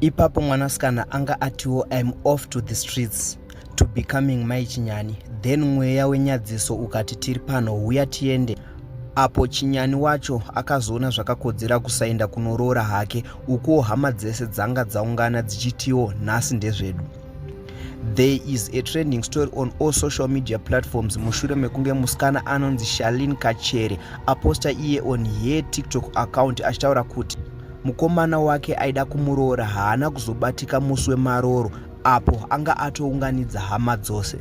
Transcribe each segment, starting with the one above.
ipapo mwanasikana anga atiwo im off to the streets to becoming mai chinyani then mweya wenyadziso ukati tiri pano huya tiende apo chinyani wacho akazoona zvakakodzera kusaenda kunoroora hake ukuwo hama dzese dzanga dzaungana dzichitiwo nhasi ndezvedu There is a trending story on all social media platforms mushure mekunge musikana anonzi Shalin Kachere aposta iye on her TikTok account achitaura kuti mukomana wake aida kumuroora haana kuzobatika musi wemaroro apo anga atounganidza hama dzose.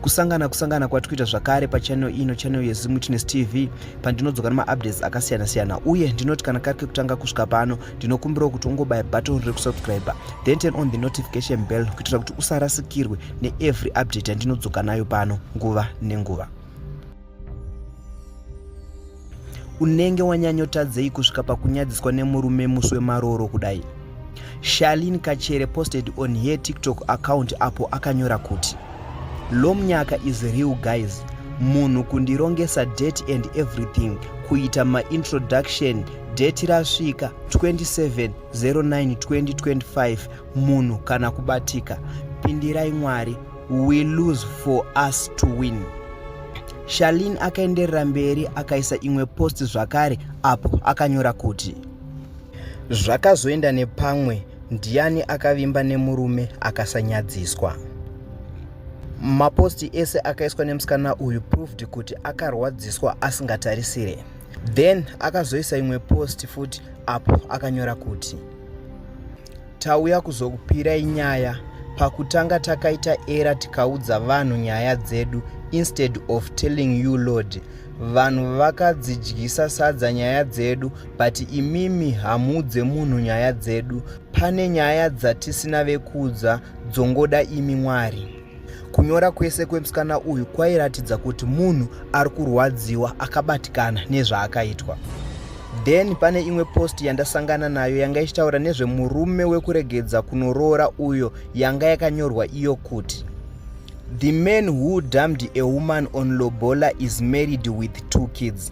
kusangana kusangana kwati kuita zvakare pachannel ino channel yezimwitness tv pandinodzoka nemaupdates akasiyana siyana uye ndinoti kana kari kekutanga kusvika pano ndinokumbirawo kuti ungobaya button rekusubscriber then turn on the notification bell kuitira kuti usarasikirwe neevery update yandinodzoka nayo pano nguva nenguva unenge wanyanyotadzei kusvika pakunyadziswa nemurume musi wemarooro kudai shalin kachere posted on her tiktok account apo akanyora kuti lomnyaka is real guys munhu kundirongesa date and everything kuita maintroduction date rasvika 27 09 2025 munhu kana kubatika pindirai mwari we lose for us to win shalin akaenderera mberi akaisa imwe post zvakare apo akanyora kuti zvakazoenda nepamwe ndiani akavimba nemurume akasanyadziswa maposti ese akaiswa nemusikana uyu proved kuti akarwadziswa asingatarisire then akazoisa imwe post futi apo akanyora kuti Tauya kuzokupirai nyaya. Pakutanga takaita era tikaudza vanhu nyaya dzedu instead of telling you Lord. Vanhu vakadzidyisa sadza nyaya dzedu but imimi hamuudze munhu nyaya dzedu. Pane nyaya dzatisina vekuudza dzongoda imi Mwari. Kunyora kwese kwemusikana uyu kwairatidza kuti munhu ari kurwadziwa akabatikana nezvaakaitwa. Then pane imwe post yandasangana nayo yanga ichitaura nezvemurume wekuregedza kunoroora uyo yanga yakanyorwa iyo kuti The man who dammed a woman on lobola is married with two kids.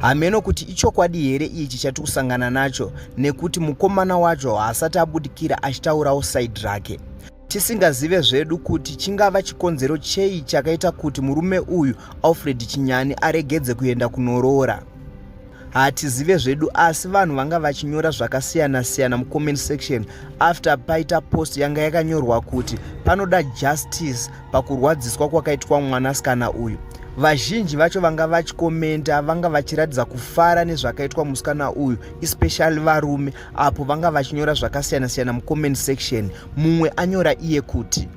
hameno kuti ichokwadi here ichi chati kusangana nacho nekuti mukomana wacho haasati abudikira achitaurawo saidi rake tisingazive zvedu kuti chingava chikonzero chei chakaita kuti murume uyu alfred chinyani aregedze kuenda kunoroora hatizive zvedu asi vanhu vanga vachinyora zvakasiyana-siyana mucomment section after paita post yanga yakanyorwa kuti panoda justice pakurwadziswa kwakaitwa mwanasikana uyu vazhinji vacho vanga vachikomenta vanga vachiratidza kufara nezvakaitwa musikana uyu especially varume apo vanga vachinyora zvakasiyana siyana mucomment section mumwe anyora iye kuti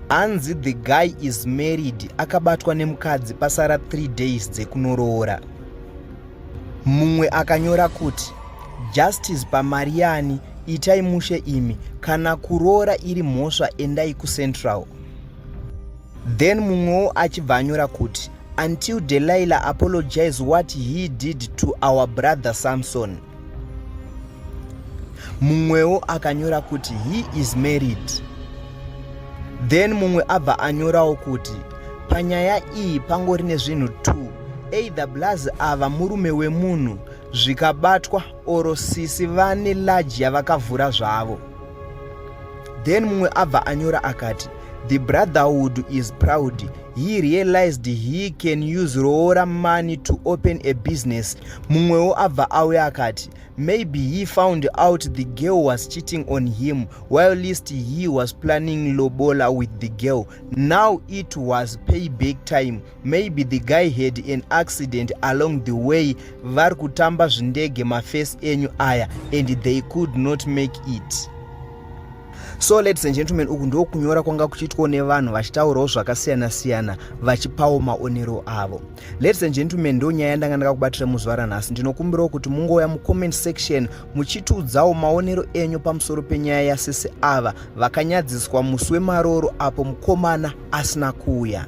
hanzi the guy is married akabatwa nemukadzi pasara 3 days dzekunoroora Mumwe akanyora kuti justice pamari yani itai mushe imi kana kuroora iri mhosva endai kucentral then mumwewo achibva anyora kuti until delilah apologize what he did to our brother samson mumwewo akanyora kuti he is married then mumwe abva anyorawo kuti panyaya iyi pangori nezvinhu two either blaz ava murume wemunhu zvikabatwa oro sisi vane large yavakavhura zvavo then mumwe abva anyora akati the brotherhood is proud he realized he can use roora money to open a business mumwewo abva auya akati maybe he found out the girl was cheating on him while least he was planning lobola with the girl Now it was pay back time. Maybe the guy had an accident along the way. Vari kutamba zvindege mafesi enyu aya and they could not make it. So ladies and gentlemen, uku ndiko kunyora kwanga kuchiitwa nevanhu vachitaurawo zvakasiyana siyana vachipawo maonero avo. Ladies and gentlemen, ndo nyaya yandanga ndakakubatira muzuva ranhasi. Ndinokumbirawo kuti mungouya mucomment section muchitiudzawo maonero enyu pamusoro penyaya yasisi ava vakanyadziswa musi wemaroro apo mukomana asina kuuya